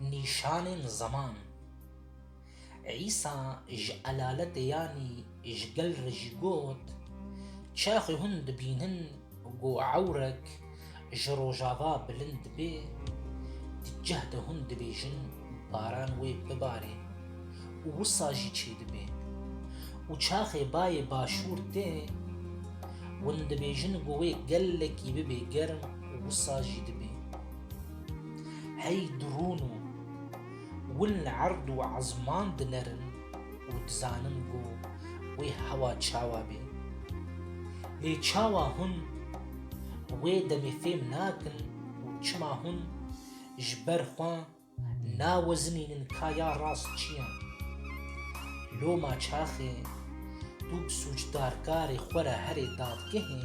Nîşanên ziman Îsa ji elaletê yanî ji gel re jî got, Çaxê hûn dibînin ku ewrek ji rojava bilind dibê, di cih de hûn dibêjin, Baran wê bibarê û wisa jî çêdibê û çaxê bayê başûr tê hûn dibêjin ku wê gelekî bibê germ û wisa jî dibê. Hey di rûn û win li erd û ezman dinerin û dizanin ku wê hewa çawa bê. Lê çawa hûn wê demê fêm nakin û çima hûn ji ber xwe nawezinînin ka ya rast çi ye. Loma çaxê tu bi sûcdarkarê xwe re herê dadgehê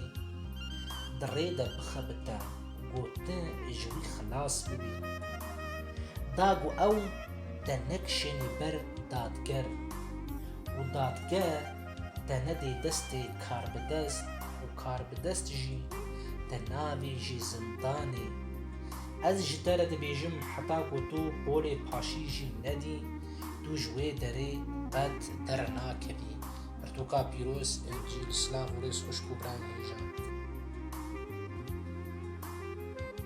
di rê de bixebite ku tu ji wî xilas bibî. Da ku ew te nekişênî ber dadger û dadge te nedê destê karbidest û karbidest jî te nabêjî zindanê. Ez ji te re dibêjim heta ku tu polê paşî jî nedî, tu ji wê derê qet dernakevî. Pirtûka pîroz Encîl Silav û rêz xwişk û birayên hêjan.